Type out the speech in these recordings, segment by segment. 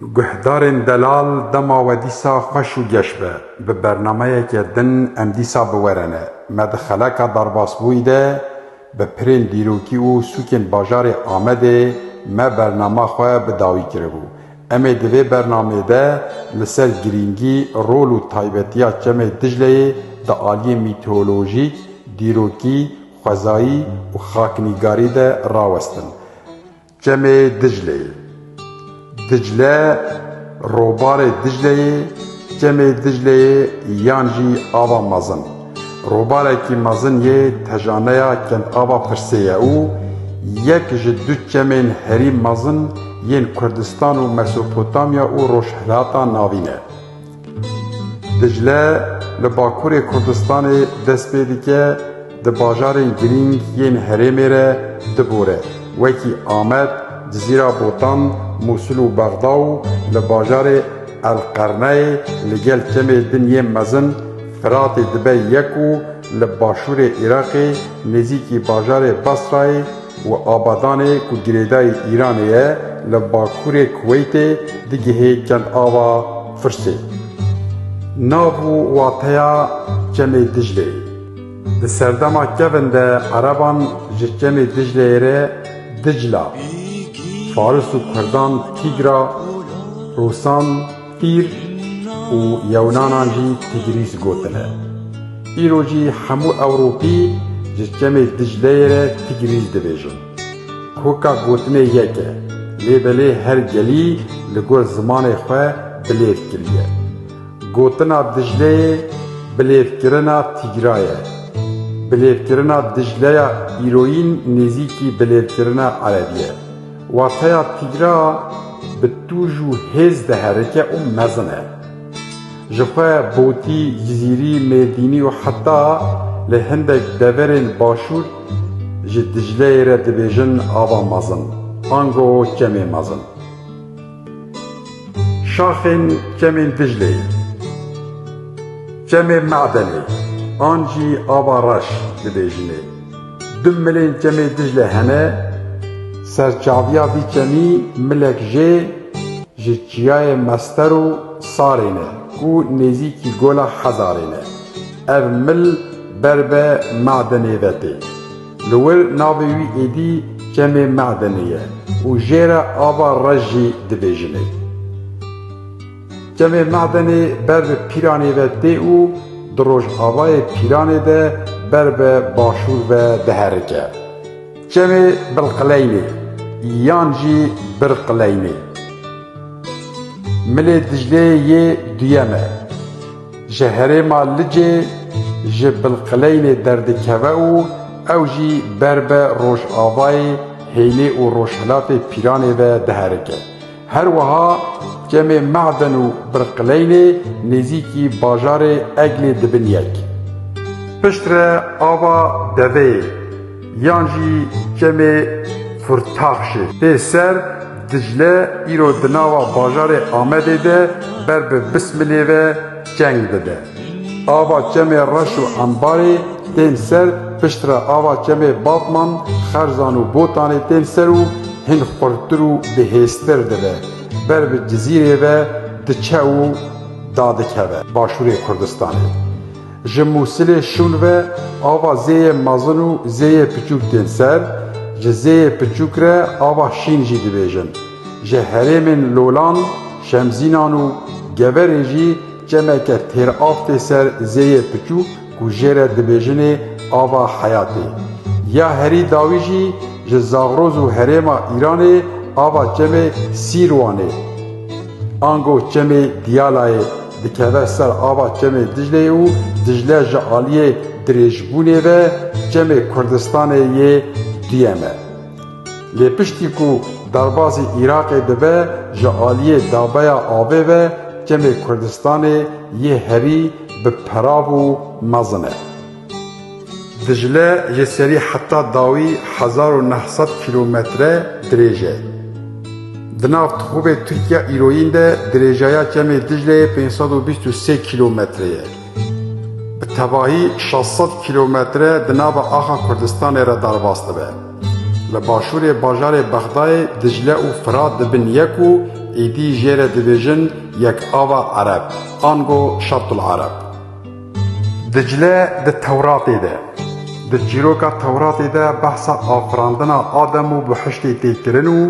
Guhdarên delal dema we dîsa xweş û geş be. Bi bernameyeke din em dîsa bi we re ne. Me di xeleka derbasbûyî de bi pirên dîrokî û sûkên bajarê Amedê me bernama xwe bi dawî kiribû. Em ê di vê bernameyê de li ser girîngî, rol û taybetiya Çemê Dicleyê di aliyên mîteolojîk, dîrokî, xwezayî û xaknîgarî de rawestin. Çemê Dicleyê Dicle Robarê Dicleyê Çemê Dicleyê yan jî Ava Mezin robarekî mezin yê tejaneya Kendava Pirsê ye û yek ji du çemên herî mezin yên Kurdistan û Mesopotamya û Rojhilata Navîn e. Dicile li bakurê Kurdistanê dest pê dike di bajarên girîng yên herêmê re dibore wekî Amed, Cizîra Botan, Mûsil û Bexda û li bajarê El-Qerneyê li gel kemê din yên mezin Firatê dibe yek û li başûrê Iraqê nêzîkî bajarê Basrayê Û Abadanê ku girêdayî Îranê ye li bakurê Kuweytê digihê Kelava Firsê. Nav û wateya Çemê Dicleyê. Di serdema kevin de ereban ji Çemê Dicleyê re Dicla, faris û kurdan Tîgra, rûsan, Pîr û yewnanan jî Tigrîz gotine. Îro jî hemû Ewropî ji çemê Dicleyê re Tigrîz dibêjin. Koka gotinê yek e, lê belê her gelî li gor zimanê xwe bilêv kiriye. Gotina Dicleyê bilêvkirina Tîgra ye. Bilêvkirina Dicleya îroyîn nêzîkî bilêvkirina Erebî ye. Wateya tîgra bi tûj û hêz diherike û mezin e. Ji xwe Botî, Cizîrî, Mêrdînî û heta li hindek deverên başûr ji Dicleyê re dibêjin ava mezin, ango kemê mezin. Şaxên kemên Dicleyê, kemê Me'denê an jî ava reş dibêjinê. Du milên çemê Dicle hene, serçaviya vî çemî milek jê ji çiyayê Mester û Sarê ne ku nêzîkî Gola Hezarê ne. Ev mil ber be Me'denê ve tê. Li wir navê wî êdî Çemê Me'denê ye û jê re Ava Rej jî dibêjinê. Kemê Medenê ber bi Pîranê ve tê û di rojavayê Pîranê de ber bi başûr ve diherike. Kemê Bilqileynê yan jî Birqileynê Milê Dicleyê yê duyem e. Ji herêma Licê ji Bilqileynê derdikeve û ew jî ber bi rojavayê hênê û rojhilatê Pîranê ve diherike. Her wiha kemê Maden û Birqileynê nêzîkî bajarê Eglê dibin yek. Piştre ava Deveyê yan jî kemê Furtaxşê tê ser Dicle îro di nava bajarê Amedê de ber bi Bismilê ve çeng dide. Ava Çemê Reş û Embarê tên ser, pişt re ava Çemê Batman, Xerzan û Botanê tên ser û hin xurttir û bihêztir dibe. Ber bi Cizîrê ve diçe û dadikeve başûrê Kurdistanê. Ji Mûsilê şûn ve ava Zêyê Mezin û Zêyê Piçûk tên ser, ji Zêyê Piçûk re ava Şîn jî dibêjin. Ji herêmên Lolan, Şemzînan û Geverê jî Çemeke têr av tê ser zêyê piçûk ku jê re dibêjinê ava heyatê. Ya herî dawî jî ji Zagroz û herêma Îranê ava çemê Sîrwanê, ango çemê Diyalayê dikeve ser ava çemê Dicleyê û Dicle ji aliyê dirêjbûnê ve çemê Kurdistanê yê duyem e. Lê piştî ku derbazî Îraqê dibe ji aliyê dabeya avê ve kemê Kurdistanê yê herî bi perav û mezin e. Dicle ji serî heta dawî hezar û neh sed kîlometre dirêj e. Di nav tixûbê Tirkiya îroyîn de dirêjaya kemê Dicleyê pênc sed û bîst û sê kîlometre ye. bi tevahî şeş sed kîlometre di nava axa Kurdistanê re derbas dibe. Li başûrê bajarê Bexdayê Dicle û Firat dibin yek û êdî jê re dibêjin Yekava Ereb, ango Şatul Ereb. Dicle di Tewratê de, di çîroka Tewratê de behsa afirandina Adem û bihiştê tê kirin û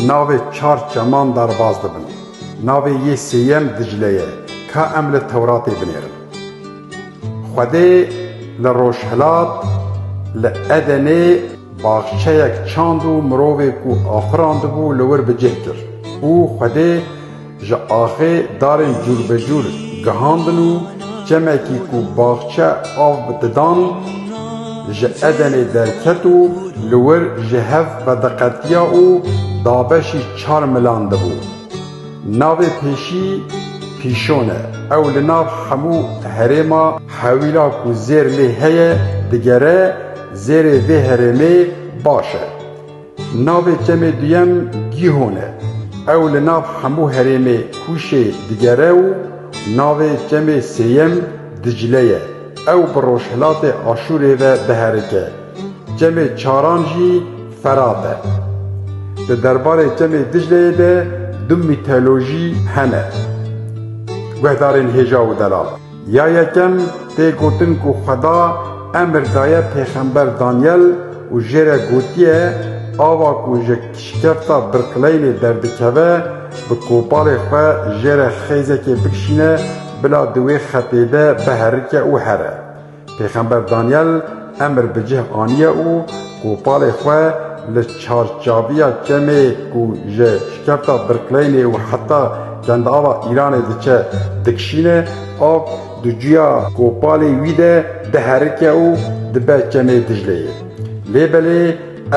navê çar çeman derbas dibin. Navê yê sêyem Dicle ye. Ka em li Tewratê binêrin. Xwedê li rojhilat li Edenê baxçeyek çand û mirovê ku afirandibû li wir bi cih kir û Xwedê ji axê darên cûrbecûr gihandin û çemekî ku baxçe av didan ji Edenê derket û li wir ji hev vediqetiya û dabeşî Çar milan dibû. Navê pêşî Pîşon e. Ew li nav hemû herêma hewîla ku zêr lê heye digere, zêrê vê herêmê baş e. Navê çemê duyem Gîhon e. Ew li nav hemû herêmê Kûşê digere û navê çemê sêyem Dicle ye. Ew bi rojhilatê Aşûrê ve diherike. Çemê çaran jî Ferab e. Di derbarê Çemê Dicleyê de du mîtolojî hene guhdarên hêja û delal. Ya yekem tê gotin ku xweda emir daye pêxember Danyel û jê re gotiye ava ku ji şikefta birqileynê derdikeve bi kopalê xwe jê re xêzekê bikişîne bila di wê xetê de biherike û here. Pêxember Danyel emr bi cih aniye û kopalê xwe li çarçaviya çemê ku ji şikefta Birkleynê û heta Kendava Îranê diçe dikişîne, av di cuya kopalê wî de diherike û dibe Çemê Dicleyê. Lê belê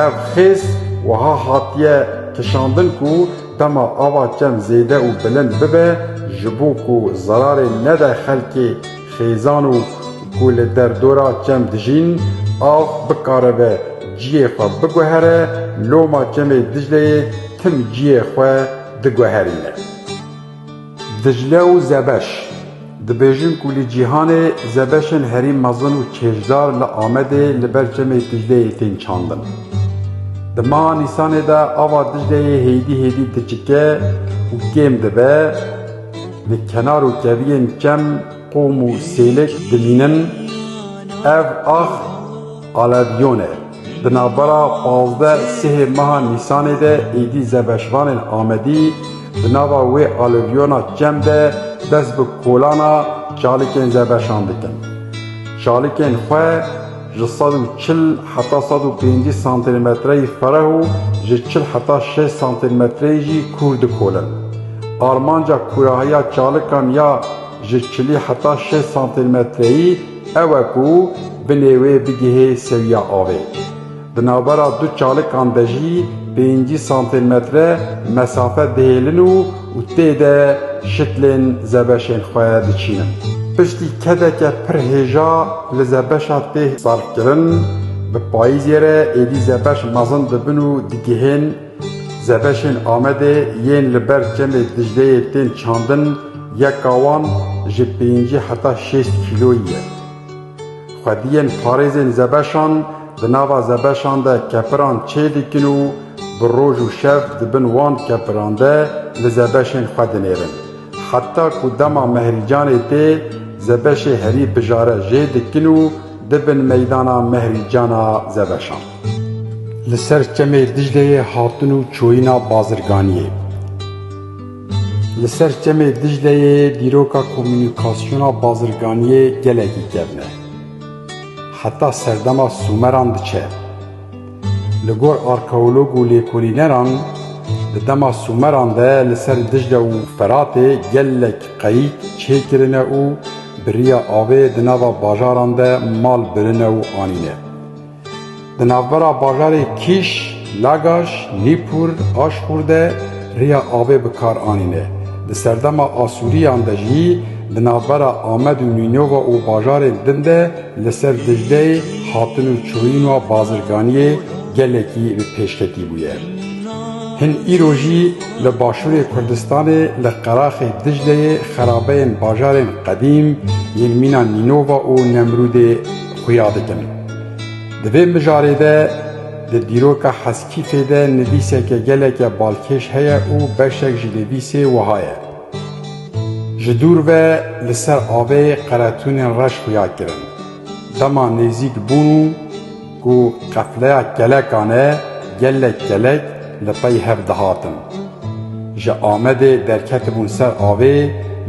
ev xêz wiha hatiye kişandin ku dema ava çem zêde û bilind bibe ji bo ku zerarê nede xelkê, Xêzan û ku li derdora çem dijîn, av bikaribe ciyê xwe biguhere, loma Çemê Dicleyê tim ciyê xwe diguherîne. Dicle û Zebeş, Dibêjin ku li cîhanê zebeşên herî mezin û çêjdar li Amedê li ber Çemê Dicleyê tên çandin. Di meha Nîsanê de ava Dicleyê hêdî hêdî diçike û kêm dibe, Di kenar û keviyên kem qom û sêlêk dimînin. Ev ax Aleviyon e. Di navbera pazdeh sihê meha Nîsanê de êdî zebeşvanên Amedî di nava wê Aleviyona kem de dest bi kolana çalikên zebeşan dikin. Çalikên xwe. Ji sed û çil heta sed û pêncî santîmetreyî fereh û ji çil heta şêst santîmetreyî jî kûr dikolin. Armanca kûrahiya çalikan ya ji çilî heta şêst santîmetreyî ew e ku binê wê bigihê sewiya avê. Di navbera du çalikan de jî pêncî santîmetre mesafe dihêlin û Û tê de şitlên zebeşên xwe diçînin. Piştî kedeke pir hêja li zebeşa tê sarfkirin, bi payîzê re êdî zebeş mezin dibin û digihên zebeşên Amedê yên li ber çemê Dicleyê tên çandin, yeka wan ji pêncî heta şêst kîloyî ye. Xwediyên parêzên zebeşan di nava zebeşan de kepiran çê dikin û bi roj û şev di bin wan kepiran de li zebeşên xwe dinêrin. Heta ku dema Mehrîcanê tê, zebeşê herî bijare jê dikin û dibin meydana Mehrîcana zebeşan. Li ser çemê Dicleyê hatin û çoyîna bazirganiyê. Li ser çemê Dicleyê dîroka komûnîkasyona bazirganiyê gelekî kevn e. Heta serdema Sûmeran diçe. Li gor arkeolog û lêkolîneran di dema Sûmeran de li ser Dicle û Feratê gelek qeyîk çê kirine û bi riya avê di nava bajaran de mal birine û anîne. Di navbera bajarê Kîş, Lagaş, Nîpur, Aşxûr de rêya avê bi kar anîne. Di serdema Asûriyan de jî di navbera Amed û Nînova û bajarên din de li ser Dicleyê hatin û çûyîn û bazirganiyê gelekî bi pêşketî bûye. Hin îro jî li başûrê Kurdistanê li qeraxê Dicleyê xerabeyên bajarên qedîm yên mîna Nînova û Nemrûdê xuya dikin. Di vê mijarê de di dîroka Heskîfê de nivîseke geleke balkêş heye û beşek ji nivîsê wiha ye, Ji dûr ve li ser avê qeretûnên reş xuya kirin. Dema nêzîk bûn û ku qefleya kelekan e gelek kelek li pey hev dihatin. Ji Amedê derketibûn ser avê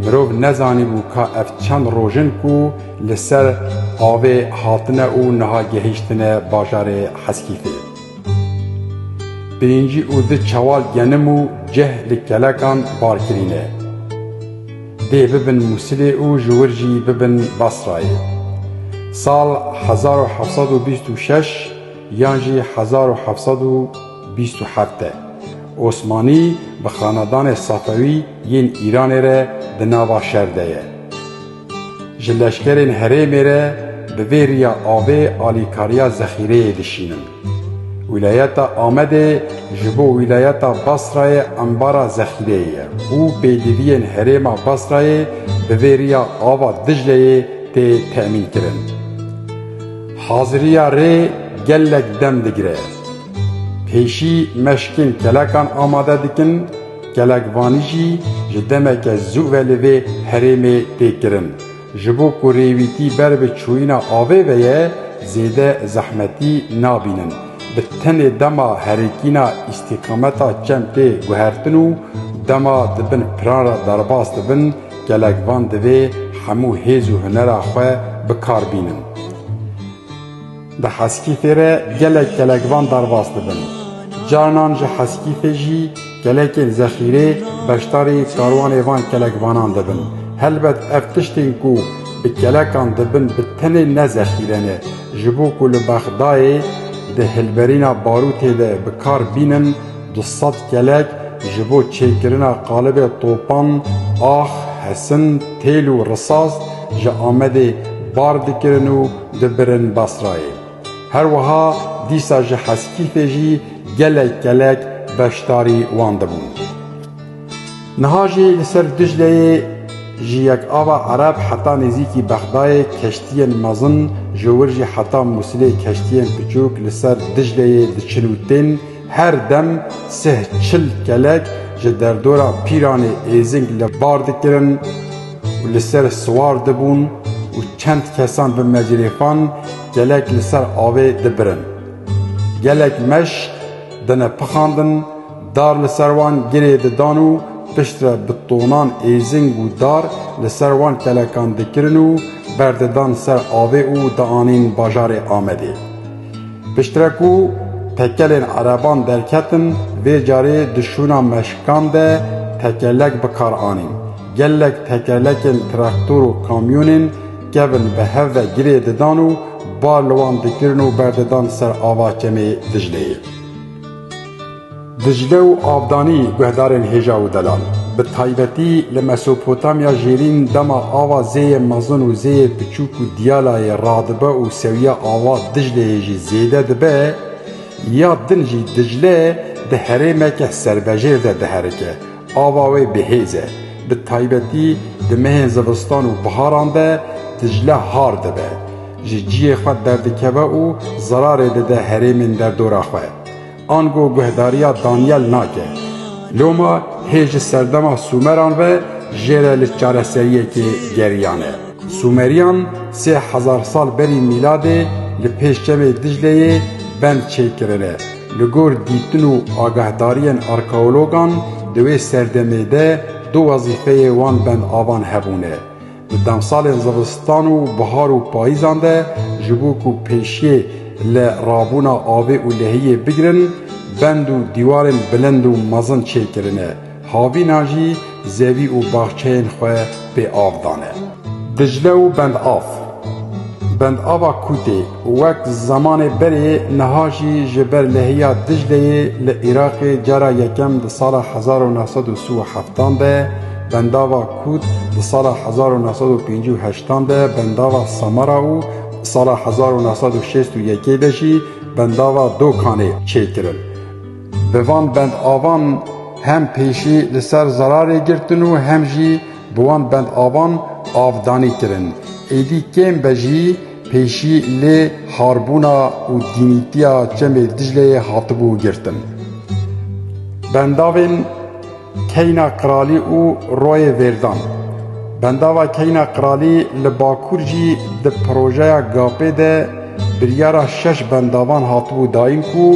mirov nezanîbû ka ev çend roj in ku Li ser avê hatine û niha gehîştine bajarê Heskîfê. Pêncî û du çewal genim û cih li kelekan bar kirîne. Dê bibin Mûsilê û ji wir jî bibin Basrayê. Sal hezar û heft sed û bîst û şeş yan jî hezar û heft sed û bîst û heft de Osmanî bi xanedanê Safewî yên Îranê re di nava şer de ye. Ji leşkerên herêmê re bi vê riya avê alîkariya zexîreyê dişînin. Wîlayeta Amedê ji bo wîlayeta Basrayê embara zexîreyê ye û pêdiviyên herêma Basrayê bi vê riya ava Dicleyê tê temînkirin. Haziriya rê gelek dem digire. Pêşî meşkên kelekan amade dikin. Gelek vanî jî ji demeke zû ve li vê herêmê tê kirin. Ji bo ku rêwîtî ber bi çûyîna avê ve ye zêde zehmetî nabînin. Bi tenê dema herikîna îstîqameta çem tê guhertin û dema di bin piran re derbas dibin gelek van divê hemû hêz û hunera xwe bi kar bînin. Di Heskîfê re gelek gelekvan derbas dibin. Carinan ji Heskîfê jî gelekên zexîrê beşdarî karwanê van kelekvanan dibin. Helbet ev tiştên ku bi kelekan dibin bi tenê ne zexîre ne. Ji bo ku li Bexdayê di hilberîna barûtê de bi kar bînin du sed kelek ji bo çêkirina qalibê topan, ax, hesin, têl û risas ji Amedê bar dikirin û dibirin Basrayê. Her wiha dîsa ji Heskîfê jî gelek gelek beşdarî wan dibûn. Niha jî li ser Dicleyê ji yek ava Ereb heta nêzîkî Bexdayê keştiyên mezin ji wir jî heta Mûsilê keştiyên piçûk li ser Dicleyê diçin û tên Her dem sih çil kelek ji derdora Pîranê Êzing li bar dikirin û li ser siwar dibûn û çend kesan bi mecrêfan kelek li ser avê dibirin. Gelek meşk dine pixandin, dar li ser wan girê didan û piştre bi tonan êzing û dar li ser wan kelekan dikirin û berdidan ser avê û dianîn bajarê Amedê. Piştre ku tekelên ereban derketin, vê carê di şûna meşkan de tekelek bi kar anîn. Gelek tekelekên traktor û kamyonên kevn bi hev ve girê didan û bar li wan dikirin û berdidan ser ava Kemê Dicleyê. Dicle û Abdanî guhdarên hêja û delal, bi taybetî li Mesopotamya Jêrîn dema ava Zêyê Mezin û Zêyê Piçûk û Diyalayê radibe û sewiya ava Dicleyê jî zêde dibe, ya din jî Dicle di herêmeke serbejêr de diherike, ava wê bihêz e, bi taybetî di mehên zivistan û biharan de Dicle har dibe, ji ciyê xwe derdikeve û zerarê dide herêmên derdora xwe. Ango guhdarîya Danyel nake. Loma hê ji serdema Sûmeran ve jê re li çareseriyekê geriyane. Sûmerîyan sê hezar sal berî mîladê li pêş çemê Dicleyê bend çêkirine. Li gor dîtin û agahdarîyên arkeologan di wê serdemê de du wezîfeyê wan bendavan hebûne. Di demsalên zivistan û bihar û payîzan de ji bo ku pêşiyê li rabûna avê û lehiyê bigirin bend û dîwarên bilind û mezin çêkirine, havînan jî zevî û baxçeyên xwe pê av dane. Dicle û Bendava Kûtê. Wek zemanê berê niha jî ji ber lehiya Dicleyê li Iraqê cara yekem di sala hezar û neh sed û si û heftan de bendava Kût, di sala hezar û neh sed û pêncî û heştan de bendava Samara û di sala hezar û neh sed û şêst û yekê de jî bendava Dokanê çêkirin. Bi van bendavan hem pêşî li ser zerarê girtin û hem jî bi wan bendavan avdanî kirin. Êdî kêm be jî Pêşî lê harbûna û dînîtiya Çemê Dicleyê hatibû girtin. Bendavên Keyna Qiralî û Royê Vêrdan, Bendava Keyna Qiralî li Bakur jî di projeya GAP'ê de biryara şeş bendavan hatibû dayîn ku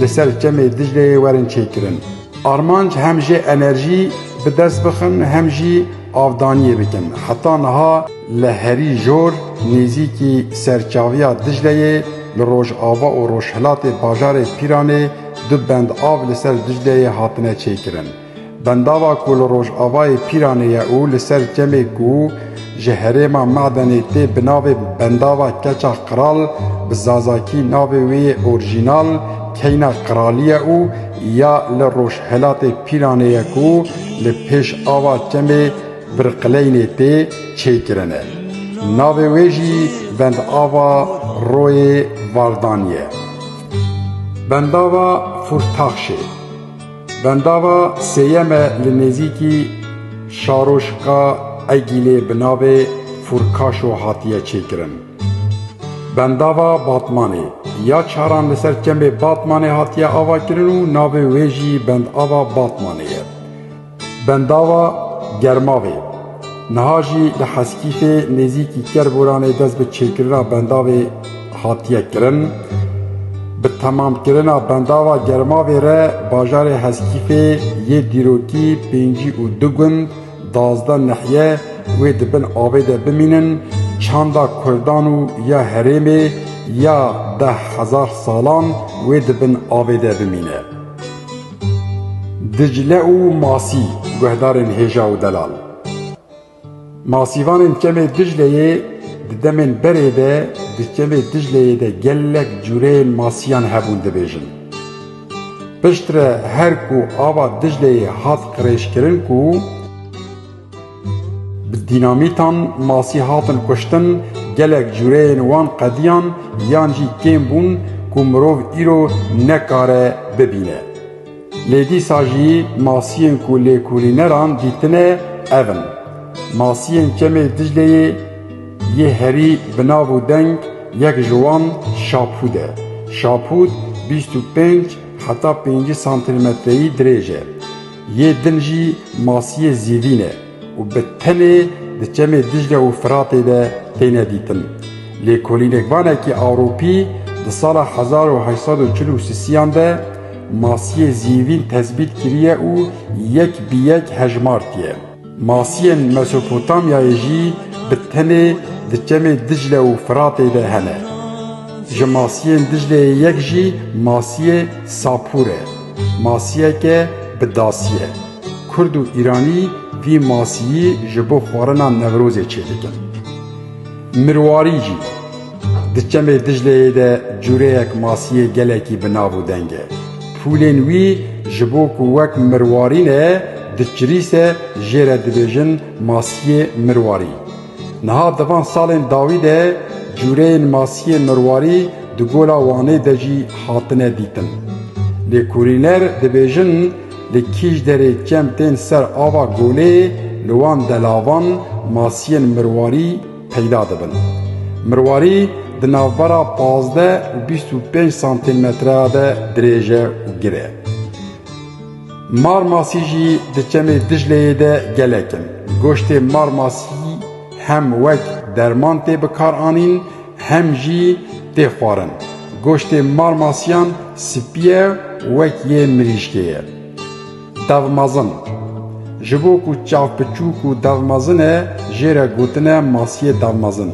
li ser Çemê Dicleyê werin çêkirin. Armanc hem jê enerjî bi dest bixin hem jî avdaniyê bikin. Heta niha. Li herî jor nêzîkî serçaviya Dicleyê li rojava û rojhilatê bajarê Pîranê du bend av li ser Dicleyê hatine çêkirin. Bendava ku li rojavayê Pîranê ye û li ser çemê ku ji herêma Medenê tê bi navê Bendava Keça Qiral bi zazakî navê wê yê orjînal Keyna Qiralî ye û ya li rojhilatê Pîranê ye ku li pêş ava çemê Birqileynê tê çêkirine. Navê wê jî Bendava Royê Vardan ye. Bendava Furtaxşê, bendava sêyem e li nêzîkî Şaroşka Egîlê bi navê Furkaşo hatiye çêkirin. Bendava Batmanê, ya çaran li ser çemê Batmanê hatiye avakirin û navê wê jî Bendava Batmanê ye. Bendava Germavê, niha jî li Heskîfê nêzîkî Kerboranê dest bi çêkirina bendavê hatiye kirin. Bi temamkirina bendava Germavê re bajarê Heskîfê yê dîrokî pêncî û du gund, dazdeh nehiye wê di bin avê de bimînin, çanda kurdan û ya herêmê ya deh hezar salan wê di bin avê de bimîne. Dicle û Masî, guhdarên hêja û delal. Masîvanên Kemê Dicleyê di demên berê de di Kemê Dicleyê de gelek cûreyên masîyan hebûn dibêjin. Piştre her ku ava Dicleyê hat qirêjkirin ku. Bi dînamîtan masî hatin kuştin, gelek cureyên wan qediyan yan jî kêm bûn ku mirov îro nekare bibîne. Lê dîsa jî masiyên ku lêkolîneran dîtine ev in. Masiyên Çemê Dicleyê yê herî bi nav û deng yek ji wan Şapûd e. Şapûd bîst û pênc heta pêncî santîlmetreyî dirêj e. Yê din jî masiyê zîvîn e û bi tenê di çemê Dîcle û Firatê de têne dîtin. Lêkolînekvanekî Ewropî di sala hezar û heşt sed û çil û sisiyan de masiyê zîvîn tezbît kiriye û yek bi yek hejmartiye. Masiyên Mesopotamyayê jî bi tenê di çemê Dicle û Firatê de hene. Ji masiyên Dicleyê yek jî masiyê Sapûr e. Masiyeke bi dasî ye. Kurd û Îranî vî masiyî ji bo xwarina Newrozê çêdikin. Mirwarî jî, Di çemê Dicleyê de cûreyek masiyê gelekî bi nav û deng e. Fûlên wî ji bo ku wek mirwarî ne, di çirîse jê re dibêjin masiyê mirwarî. Niha di van salên dawî de cûreyên masiyê mirwarî di Gola Wanê de jî hatine dîtin. Lêkolîner dibêjin, Li Kîjderê çem tên ser ava Golê, li wan de lavan, masiyên mirwarî peyda dibin. Mirwarî di navbera pazdeh û bîst û pênc santîmetreya de dirêj e û gir e. Marmasî jî di çemê Dicleyê de gelek in. Goştê marmasî hem wek derman tê bikaranîn Hem jî tê xwarin. Goştê marmasiyan spî ye wek yê mirîşkê ye. Dev mezin. Ji bo ku çav piçûk û dev mezin e jê re gotine masiyê dev mezin.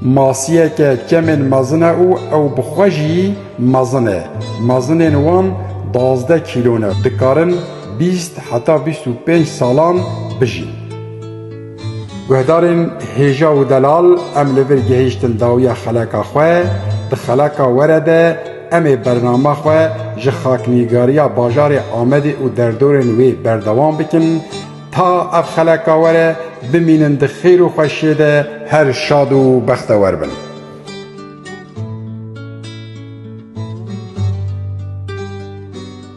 Masiyeke çemên mezin e û ew bi xwe jî mezin e. Mezinên wan duwazdeh kîlo ne. Dikarin bîst heta bîst û pênc salan bijîn. Guhdarên hêja û delal em li vir gihiştin dawiya xeleka xwe, di xeleka were de em ê bernama xwe ji xaknîgariya bajarê Amedê û derdorên wê berdewam bikin ta ev xeleka were bimînin di xêr û xweşiyê de her şad û bextewer bin.